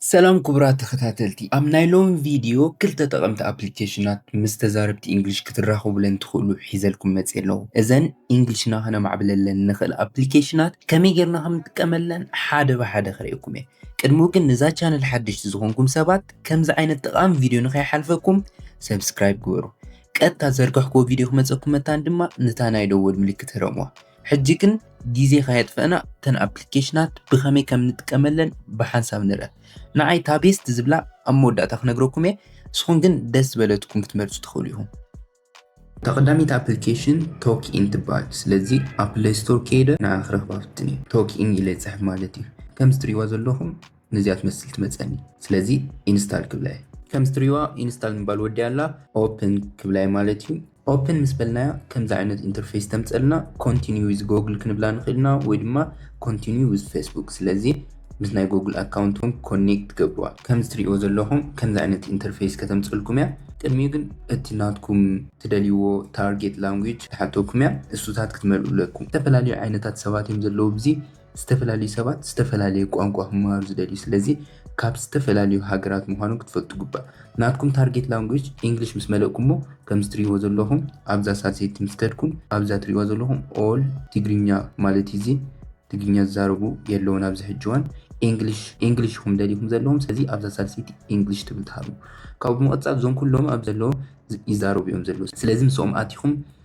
ሰላም ክቡራት ተኸታተልቲ፣ ኣብ ናይ ሎሚ ቪድዮ ክልተ ጠቐምቲ ኣፕሊኬሽናት ምስ ተዛረብቲ ኢንግሊሽ ክትራኸቡለን ትኽእሉ ሒዘልኩም መጺኤ ኣለኹ። እዘን ኢንግሊሽና ከነማዕብለለን ንኽእል ኣፕሊኬሽናት ከመይ ጌርና ከም ንጥቀመለን ሓደ ብሓደ ከርእየኩም እየ። ቅድሚኡ ግን ንዛ ቻነል ሓደሽቲ ዝኾንኩም ሰባት ከምዚ ዓይነት ጠቓሚ ቪድዮ ንኸይሓልፈኩም ሰብስክራይብ ግበሩ። ቀጥታ ዝዘርጋሕኩዎ ቪድዮ ክመጸኩም መታን ድማ ነታ ናይ ደወል ምልክት ህረሙዋ። ሕጂ ግን ግዜ ከየጥፈእና እተን ኣፕሊኬሽናት ብኸመይ ከም ንጥቀመለን ብሓንሳብ ንርኣ። ንዓይ እታ ቤስት ዝብላ ኣብ መወዳእታ ክነግረኩም እየ፣ ንስኹም ግን ደስ ዝበለትኩም ክትመርጹ ትኽእሉ ኢኹም። እታ ቀዳመይቲ ኣፕሊኬሽን ቶክ ኢን ትበሃል፣ ስለዚ ኣብ ፕለይ ስቶር ከይደ ንዓ ክረኽባ ፍትን እየ። ቶክ ኢን ኢለ ይጽሕፍ ማለት እዩ። ከምዚ ትርእይዋ ዘለኹም ነዚኣ ትመስል ትመፀኒ ስለዚ ኢንስታል ክብላ እየ። ከምዚ ትሪእዋ ኢንስታል ምባል ወዲኣ ኣላ ኦፕን ክብላ እየ ማለት እዩ። ኦፕን ምስ በልናያ ከምዚ ዓይነት ኢንተርፌስ ተምፀእልና ኮንቲንዩ ዊዝ ጎግል ክንብላ ንኽእል ኢና ወይ ድማ ኮንቲንዩ ዊዝ ፌስቡክ ስለዚ ምስ ናይ ጎግል ኣካውንት እውን ኮኔክት ትገብርዋ። ከምዚ ትሪእዎ ዘለኹም ከምዚ ዓይነት ኢንተርፌስ ከተምፀልኩም እያ። ቅድሚኡ ግን እቲ ናትኩም ትደልይዎ ታርጌት ላንጉጅ ትሓተኩም እያ እሱታት ክትመልኡ ኣለኩም ዝተፈላለዩ ዓይነታት ሰባት እዮም ዘለዉ ብዚ ዝተፈላለዩ ሰባት ዝተፈላለየ ቋንቋ ክመሃሩ ዝደልዩ ስለዚ ካብ ዝተፈላለዩ ሃገራት ምዃኑ ክትፈልጡ ግባእ። ናትኩም ታርጌት ላንጉጅ ኢንግሊሽ ምስ መለእኩሞ ከምዚ ትሪእዎ ዘለኹም ኣብዛ ሳልሰይቲ ምስ ከድኩም ኣብዛ ትሪእዋ ዘለኹም ኦል ትግርኛ ማለት እዩ እዚ ትግርኛ ዝዛረቡ የለውን ኣብዚ ሕጂ እዋን ኢንግሊሽ ኢንግሊሽ ኢኹም ደሊኹም ዘለኹም ስለዚ ኣብዛ ሳልሰይቲ ኢንግሊሽ ትብል ትሃቡ ካብኡ ብምቕጻል እዞም ኩሎም ኣብ ዘለዎ ይዛረቡ እዮም ዘለዉ ስለዚ ምስኦም ኣቲኹም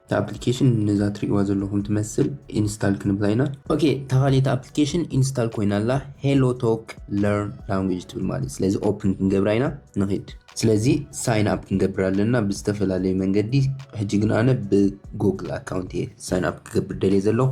እታ ኣፕሊኬሽን ነዛ ትሪእዋ ዘለኹም ትመስል ኢንስታል ክንብላ ኢና። ኦኬ እታ ካልኣይቲ ኣፕሊኬሽን ኢንስታል ኮይና ኣላ ሄሎ ቶክ ለርን ላንጉጅ ትብል ማለት እዩ። ስለዚ ኦፕን ክንገብራ ኢና ንኺድ። ስለዚ ሳይን ኣፕ ክንገብር ኣለና ብዝተፈላለዩ መንገዲ ሕጂ ግን ኣነ ብጎግል ኣካውንት እየ ሳይን ኣፕ ክገብር ደልየ ዘለኹ።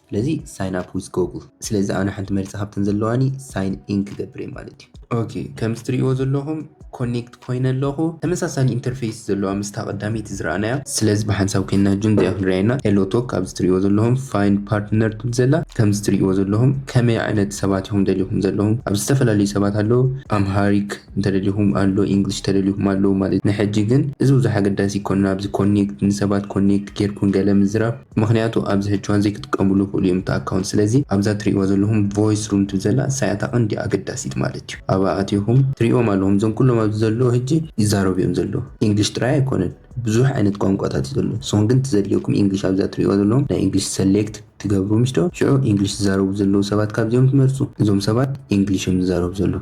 ስለዚ ሳይን ኣፕ ዊዝ ጎጉል ስለዚ ኣነ ሓንቲ መሪፀ ካብተን ዘለዋኒ ሳይን ኢን ክገብር እየ ማለት እዩ። ኦኬ ከምዚ ትሪእዎ ዘለኹም ኮኔክት ኮይነ ኣለኹ ተመሳሳሊ ኢንተርፌስ ዘለዋ ምስታ ቀዳመይቲ ዝረኣናያ ስለዚ ብሓንሳብ ኮይንና ጁን እዚኣ ክንሪኣ ኢና ሄሎ ቶክ ካብዚ ትሪእዎ ዘለኹም ፋይንድ ፓርትነር ትብል ዘላ ከምዚ ትሪእዎ ዘለኹም ከመይ ዓይነት ሰባት ኢኹም ደሊኹም ዘለኹም ኣብዚ ዝተፈላለዩ ሰባት ኣለዉ ኣምሃሪክ እንተደሊኹም ኣሎ ኢንግሊሽ ተደሊኹም ኣለዉ ማለት እዩ ንሕጂ ግን እዚ ብዙሕ ኣገዳሲ ኣይኮነን ኣብዚ ኮኔክት ንሰባት ኮኔክት ጌርኩም ገለ ምዝራብ ምኽንያቱ ኣብዚ ሕጂ እዋን ዘይክጥቀምሉ ይኽእሉ እዮም እቲ ኣካውንት ስለዚ ኣብዛ ትርእይዋ ዘለኹም ቮይስ ሩም ትብል ዘላ ንሳ እያ እታ ቀንዲ ኣገዳሲት ማለት እዩ ኣብኣ ኣቲኹም ትርእይዎም ኣለኹም እዞም ኩሎም ኣብዚ ዘለዉ ሕጂ ይዛረቡ እዮም ዘለዉ ኢንግሊሽ ጥራይ ኣይኮነን ብዙሕ ዓይነት ቋንቋታት እዩ ዘሎ ንስኹም ግን እቲ ዘድልየኩም ኢንግሊሽ ኣብዛ ትርእይዋ ዘለኹም ናይ ኢንግሊሽ ሰሌክት ትገብሩ ምሽዶ ሽዑ ኢንግሊሽ ዝዛረቡ ዘለዉ ሰባት ካብዚኦም ትመርጹ እዞም ሰባት ኢንግሊሽ እዮም ዝዛረቡ ዘለዉ።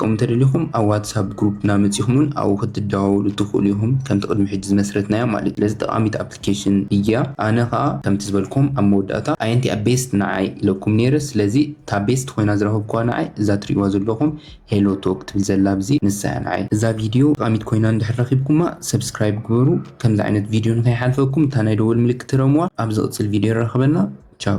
ከምኡ እንተደሊኹም ኣብ ዋትስኣፕ ግሩፕና መጺኹም ውን ኣብኡ ክትደዋወሉ ትኽእሉ ኢኹም ከምቲ ቅድሚ ሕጂ ዝመስረትናዮ ማለት እዩ ስለዚ ጠቓሚት ኣፕሊኬሽን እያ ኣነ ከኣ ከምቲ ዝበልክዎም ኣብ መወዳእታ ኣየንቲኣ ቤስት ንዓይ ኢለኩም ኔረ ስለዚ እታ ቤስት ኮይና ዝረኸብክዋ ንዓይ እዛ ትርእይዋ ዘለኹም ሄሎ ቶክ ትብል ዘላ ኣብዚ ንሳ እያ ንዓይ እዛ ቪድዮ ጠቓሚት ኮይና እንድሕር ረኺብኩማ ሰብስክራይብ ግበሩ ከምዚ ዓይነት ቪድዮ ንከይሓልፈኩም እታ ናይ ደወል ምልክት ረምዋ ኣብ ዝቕጽል ቪድዮ የራኽበና ቻው።